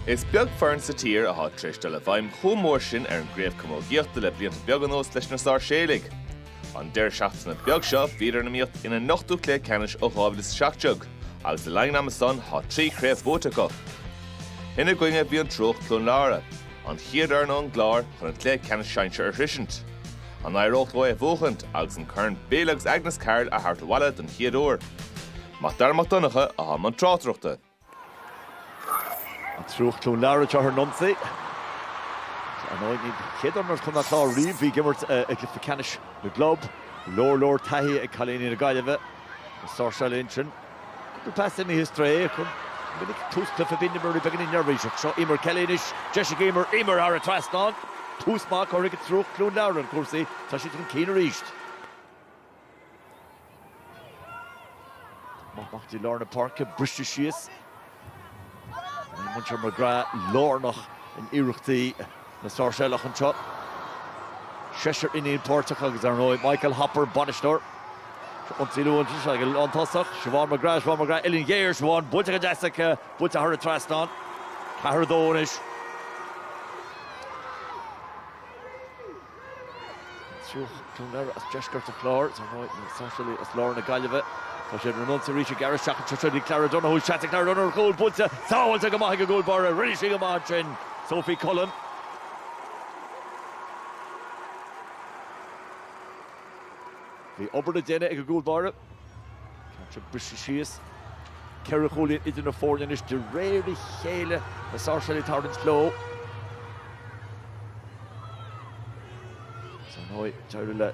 Is beag foireann sa tír atá tar éis dul i bhfeidhm chomh mór sin ar an gcraobh camógaíochta le blianta beaga anuas leis na Sáirséalaigh. An deireadh seachtaine beag seo bhíodar in iomaíocht ina n-ochtú cluiche ceannais ó 2017 agus le linn an ama san tá trí chraobh buaite acu. Ina gcoinne bhí an Triúch Cluain Lára, an chéad fhoireann ón gClár chun an cluiche ceannais sinsear a shroisint. An éireodh leo é a bhuachaint agus an corn Bill agus Agnes Carroll a thabhairt abhaile don chéad uair? Mac Dara Mac Donncha, atá i mbun tráchtaireachta. An Triúch Cluain Lára ag tabhairt an ionsaí. Ar ndóigh, an chéad fhoireann ó Chontae an Chláir riamh a bhí ag imirt i gcluiche ceannais na gclub. Leor leor taithí ag cailíní na Gaillimhe na Sáirséalaigh ansin. Cúpla pas imithe ar strae acu. Go minic tús cluiche bíonn na rudaí beagáinín neirbhíseach. Seo Emer Kelly anois. Deis ag Emer. Emer thar an trasnán. Tús maith curtha ag an Triúch Cluain Lára le cúrsaí. Tá siad chun cinn arís. Poc amach go dtí lár na páirce briste síos. Bhí muintir McGrath lárnach in iarrachtaí na Sáirséalach anseo. Seisear iníon páirteach agus ar ndóigh Michael Hopper, bainisteoir. Ionsaí luath anois ag goil chun tosaigh. Siobhán McGrath, Siobhán McGrath, uillinn ghéar, Siobhán buailte go deas aici, buailte thar an trasnán. 4-2 anois. Triúch Cluain Lára as deisceart an Chláir, dar ndóigh, na Sáirséalaigh as lár na Gaillimhe. Tá siad san ionsaí arís ag gearradh isteach anseo chugainn. Clara Donohue, seans ag Clara Donohue ar chúl, buailte, sábháilte go maith ag an gcúl báire. Rinne sí go maith ansin, Sophie Cullen. Bhí obair le déanamh ag an gcúl báire. Caint ag briseadh síos. Ceithre chúilín idir na foirne anois de réir a chéile. Na Sáirséalaigh ag tarraingt leo. 'S ar ndóigh, d'éirigh le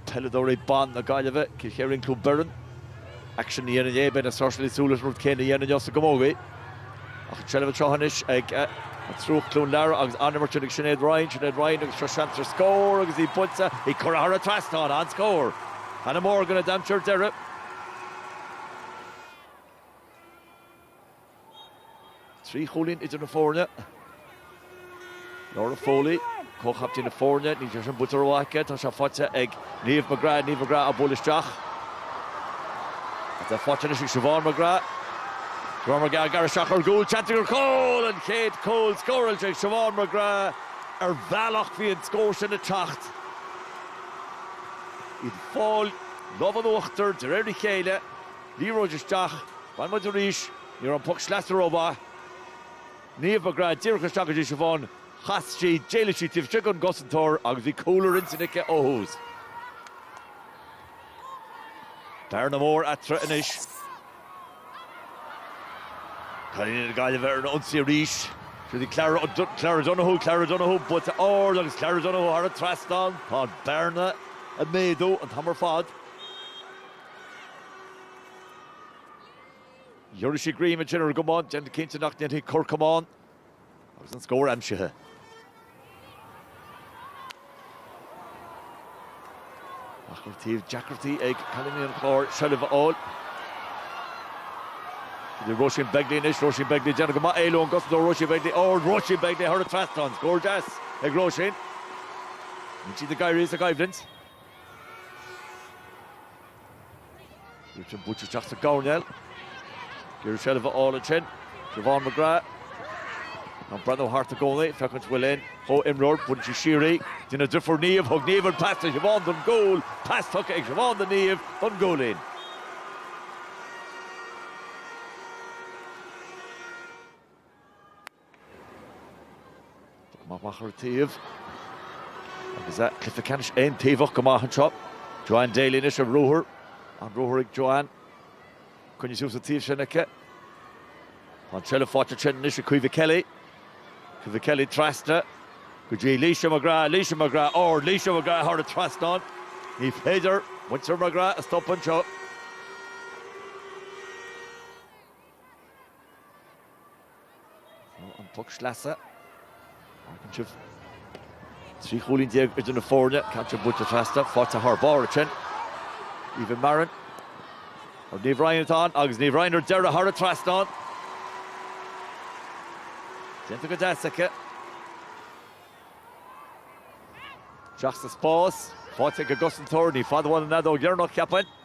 peileadóirí ban na Gaillimhe, Cill Choirín Cluain Bheirn, aicsean a dhéanamh inné. Beidh na Sáirséalaigh ag súil leis an rud céanna a dhéanamh inniu sa gcamogaí. Ach an tseilbh anseo anois ag an Triúch Cluain Lára agus an-imirt sin ag Sinéad Ryan, Sinéad Ryan agus seo seans ar scór agus í buailte, í curtha thar an trasnán, an-scór! Hannah Morgan a d'aimsigh ar deireadh. Trí chúilín idir na foirne. Laura Foley, comhchaptaen na foirne, níl sé sin buailte rómhaith aici, tá sé faighte ag Niamh McGrath, Niamh McGrath á bualadh isteach. Tá faighte anois ag Siobhán McGrath. Siobhán McGrath ag gearradh isteach ar an gcúl, seans aici ar chúl! An chéad cúl scóráilte ag Siobhán McGrath. Ar bhealach bhí an scór sin ag teacht. Iad ag fáil an lámh in uachtar de réir a chéile, liathróid isteach, bhain muid arís, ní raibh an poc sleasa rómhaith. Niamh McGrath, díreach isteach go dtí Siobhán. Chas sí, d'éalaigh sí taobh istigh ón gcosantóir agus bhí cúl ar intinn aici ó thús. Bearna mór eatarthu anois. Cailíní na Gaillimhe ar an ionsaí arís. Seo í Clara O'Donoghue, Clara O'Donoghue, buaite ard agus Clara O'Donoghue thar an trasnán. Tá an bhearna ag méadú an t-am ar fad. Dhírigh sí greim ar deireadh ar a camán, déanamh cinnte nach ndéanfadh cor camáin agus an scór aimsithe. Ach tá deacrachtaí ag cailíní an Chláir seilbh a fháil. Idir Róisín Begley anois, Róisín Begley déanamh go maith éalú ón gcosantóir, Róisín Begley ard, Róisín Begley thar an trasnán, scór deas ag Róisín. Níl siad ag éirí as an gcoimhlint. Richmond bainte isteach sa gcoirnéal. Iarraidh seilbh a fháil ansin. Siobhán McGrath. Ag breathnú thart i gcónaí. Féachaint an bhfuil aon chomh-imreoir. Buaileann sí siar í. I dtreo a deirfiúr Niamh. Thug Niamh an pas do Shiobhán don gcúl. Pas tugtha ag Siobhán do Niamh don gcúilín. Tógtha amach ar an taobh agus cluiche ceannais aontaobhach go maith anseo. Joanne Daly anois ar ruathar. An ruathar ag Joanne. Coinnithe ar siúl sa taobh sin aici. Tá an seilbh faighte ansin anois ag Caoimhe Kelly. Caoimhe Kelly trasna go dtí Laoise McGrath, Laoise McGrath ard, Laoise McGrath thar an trasnán. Ní féidir muintir McGrath a stop anseo. Ar an bpoc sleasa. Fágann sin 13 chúilín idir na foirne. Cantar buaite feasta. Faighte thar barr ansin. Aoibhinn Mairin. Ar Niamh Ryan atá ann agus Niamh Ryan ar deireadh thar an trasnán. Déanta go deas aici. Teacht sa spás. Faighte ag an gcosantóir. Ní fada uainn an fheadóg dheireanach, ceapainn.